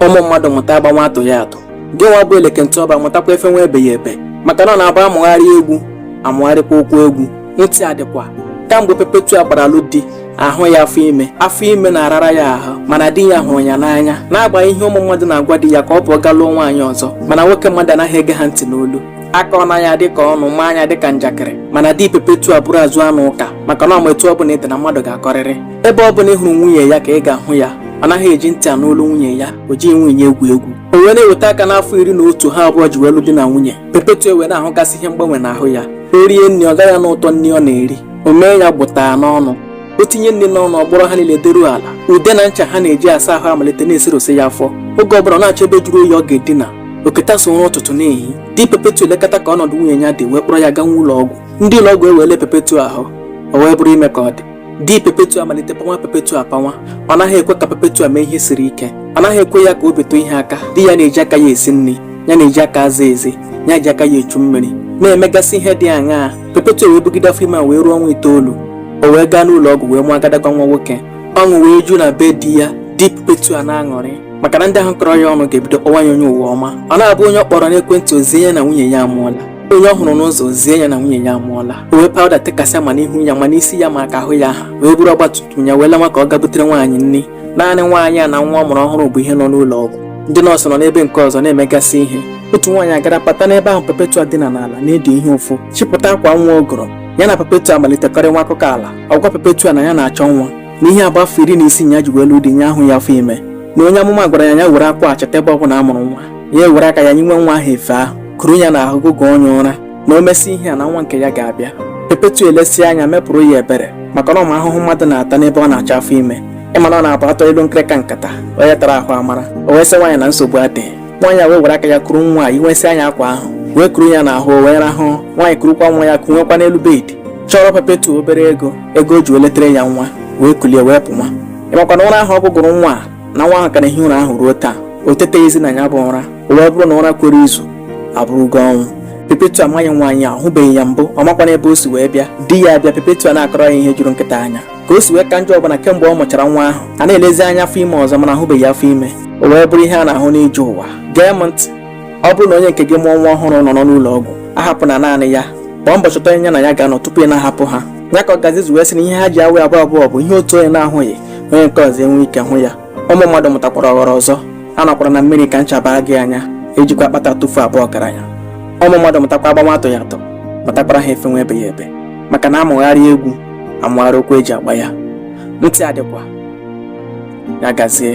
ụmụ mmadụ mụta agbanwa atụghị atụ gị nwa bụ eleke nti ọba mụtakwa efenwa ebeghị ebe maka na ọ na-abụ a mụgharị egwu a mụgharịkwa ụkwụ egwu ntị adịkwa kamgbe Perpetua gbara alụ di ahụghị afọ ime afọ ime na-arara ya ahụ mana di ya hụrụ ya n'anya n'agbanyeghị ihe ụmụ mmadụ na-agwa di ya ka ọ pụọ ga lụọ nwaanyị ọzọ mana nwoke mmadụ anaghị ege ha ntị n'olu a kọọ ya dị ka ọnụ maa ya dị ka njakịrị mana di Perpetua bụrụ azụ anụ ụka maka na ọ ma etu ọ bụla ị dị na mmadụ ga-akọrịrị ebe ọ bụla ị hụrụ nwunye ya ka ị ga-ahụ ya ọ naghị eji ntị anụ olu nwunye ya o jighị nwunye egwu egwu o wee na-eweta aka n'afọ iri na otu ha abụọ ji wee lụ di na nwunye Perpetua wee na-ahụgasị ihe mgbanwe n'ahụ ya o rie nri ọ gaghị anụ ụtọ nri ọ na-eri o mee ya gbụta n'ọnụ o tinye nri n'ọnụ ọ gbọrọ ha niile deruo ala ude na ncha ha na-eji asa ahụ amalite na-eserose ya afọ oge ọ bụla ọ na-achọ ebe jụrụ oyi ọ ga-edina o keta so ụra ụtụtụ na-ehi di Perpetua elekata ka ọnọdụ nwunye ya dị wee kpọrọ ya gawa ụlọ ọgwụ ndị ụlọ ọgwụ ewee lee Perpetua ahụ o wee bụrụ ime ka ọ dị di Perpetua amalite panwa Perpetua apanwa ọ naghị ekwe ka Perpetua mee ihe siri ike ọ naghị ekwe ya ka o bitu ihe aka di ya na-eji aka ya esi nri ya na-eji aka aza ezi ya ji aka ya echu mmiri na-emegasị ihe dị aṅaa Perpetua wee bugide afọ ime wee ruo ọnwa itoolu o wee gaa n'ụlọ ọgwụ wee mụọ agadagwa nwa nwoke ọṅụ wee ju na be di ya di Perpetua na-aṅụrị maka na ndị ahụ kọrọ ya ọnụ ga-ebido kpọwa ya onye ụwa ọma ọ na-abụ onye ọ kpọrọ n'ekwentị o zie ya na nwunye ya amụọla onye ọ hụrụ n'ụzọ o zie ya na nwunye ya amụọla o were pawụda tekasịa ma n'ihu ya ma n'isi ya ma aka ahụ ya aha wee buru ọgbatumtum ya wee lawa ka ọ gaa butere nwaanyị nri naanị nwaanyị a na nwa ọ mụrụ ọhụrụ bụ ihe nọ n'ụlọ ọgwụ ndị nọọsụ nọ n'ebe nke ọzọ na-emegasị ihe otu nwaanyị agara bata n'ebe ahụ Perpetua dina n'ala na-edi ihe ụfụ chịpụta akwa nwa ọ goro ya na Perpetua amalite kọrịnwa akụkọ ala ọ gwa Perpetua na ya na-achọ nwa na ihe agba afọ iri na isii ya ji wee lụọ di ya ahụghị afọ ime na onye amụma gwara ya ya were akwa a chọta ebe ọ bụla a mụrụ nwa ya ewere aka ya yinwe nwa ahụ efe ahụ kuru ya n'ahụ gụgụọ ya ụra na o mesị ihe a na nwa nke ya ga-abịa Perpetua elesie anya mepụrụ ya ebere maka na ọ ma ahụhụ mmadụ na-ata n'ebe ọ na-achọ afọ ime ị ma na ọ na-abụ a tụọ ilu nkịrịka nkata onye tara ahụ amara o wee sị nwaanyị na nsogbu adịghị nwaanyị a wee were aka ya kuru nwa a yinwesịa ya akwa ahụ wee kuru ya n'ahụ o wee rahụ nwaanyị kurukwa nwa ya kunwekwa n'elu bedi chọọrọ Perpetua obere ego ego o ji wee letara ya nwa wee kulie wee pụnwa ị makwa na ụra ahụ ọ gụgụrụ nwa a na nwa ahụ ka na-ehi ụra ahụ ruo taa o teteghịzi na ya bụ ụra o wee bụrụ na ụra kwere izu abụrụgo ọnwụ Perpetua amaghị nwaanyị a ọ hụbeghị ya mbụ ọ makwana ebe o si wee bịa di ya abịa Perpetua na-akọrọ ya ihe juru nkịta anya ka o si wee ka njọ bụ na kemgbe ọ mụchara nwa ahụ a na-elezi anya afọ ime ọzọ mana a hụbeghị afọ ime o wee bụrụ ihe a na-ahụ n'ije ụwa gee m ntị ọ bụrụ na onye nke gị mụọ nwa ọhụrụ nọ n'ụlọ ọgwụ ahapụna naanị ya gbaa mbọ chọta onye ya na ya ga-anọ tupu ị na-ahapụ ha ya ka ọgazi ji wee sị na ihe ha ji awụ abụọ abụọ bụ ihe otu onye na-ahụghị onye nke ọzọ enwe ike hụ ya ụmụ mmadụ mụtakwara aghụghọ ọzọ anọkwala na mmiri ka ncha baa gị anya ejikwa akpata atụfu abụ ọgaranya ụmụ mmadụ mụtakwa agba nwa atụghị atụ mụtakwara ha efe nwa ebeghị ebe maka na a mụgharịa egwu a mụgharịa ụkwụ e ji agba ya ntị adịkwa ya gazie